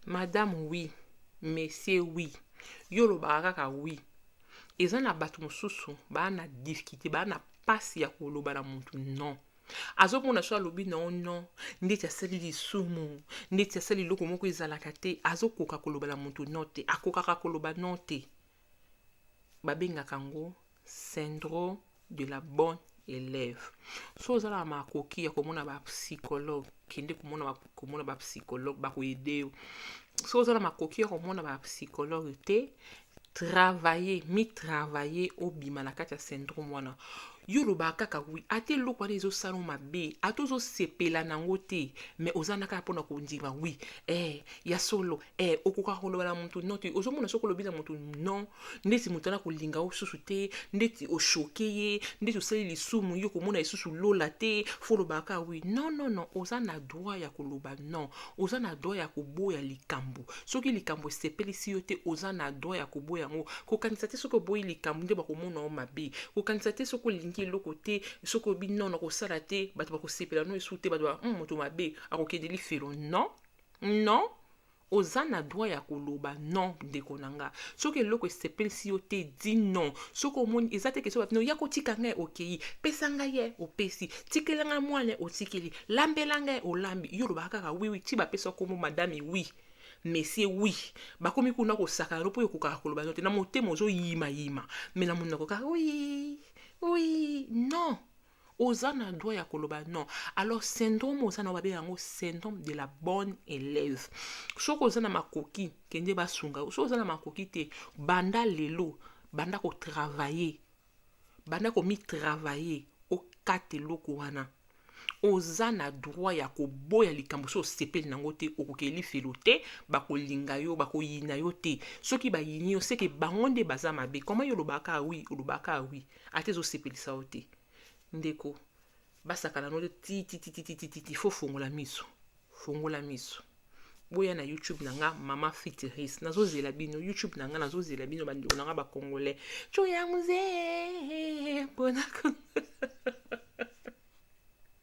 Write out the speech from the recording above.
Madame oui, monsieur oui, yo olobaka kaka oui. Eza na bato mosusu baa na difficulte, baa na mpasi ya koloba na moto non. Azomona soki alobi na yo non, ndeti asali lisumu, ndeti asali eloko moko ezalaka te, azokoka koloba na moto non te, akokaka koloba non te. babengaka yango syndrome de la bonne élève so oza na makoki ya komona bapsychologue kende komona komona bapsychologue bakoyede yo so oza na makoki ya komona bapsychologue te travailler mitravailler obima na kati ya syndrome wana yo olobaka kaka wi ata eloko wana ezosala yo mabe ata ozosepela nango te me oza na kaka mpona kondima wi eh, ya solo eh, okoka koloba na moto non te ozomona soki olobi na moto non ndeti moto ana kolinga yo susu te ndeti oshoke ye ndeti osali lisumu yo komona lisusu lola te fo olobaka wi non non non oza na droit ya koloba non oza na droit ya koboya likambo soki likambo esepelisi yo te oza na droit ya koboya yango kokanisa te soki oboyi likambo nde bakomona yo mabe kokanisa te soki olingi eloko te soki obi non nakosala te bato bakosepela no esu te bato ba hmm, moto mabe akokende lifelo non non oza na droit ya koloba non ndeko na nga soki eloko esepelisi yo te di non soki omoni eza te kesi bino ya kotika ngai okei pesa ngai ye opesi tikela ngai mwana ye otikeli lambela ngai olambi yo olobaka kaka wiwi ti bapesa nkombo madame wi mesie wi bakomi kuna kosaka yango mpo ekokaka koloba no te na motema ozoyimayima me na monoko kaka wi wi non Oza na droit ya koloba non. Alors syndrome oza na yo babenga yango syndrome de la bonne elève. Soki oza na makoki kende basunga yo. Soki oza na makoki te banda lelo banda ko travailler. Banda ko mi travailler okata eloko wana. Oza na droit ya koboya likambo soki osepeli na yango te okokende lifelo te bakolinga yo bakoyina yo te soki bayini yo seke bango nde baza mabe comment yo olobaka oui olobaka oui ata ezosepelisa yo te ndeko basakana no tititititititi fo fongola miso fongola miso boya na youtube na nga mama fitiris nazozela bino youtube na nga nazozela bino bandeko na nga bacongolais co ya muzee mpona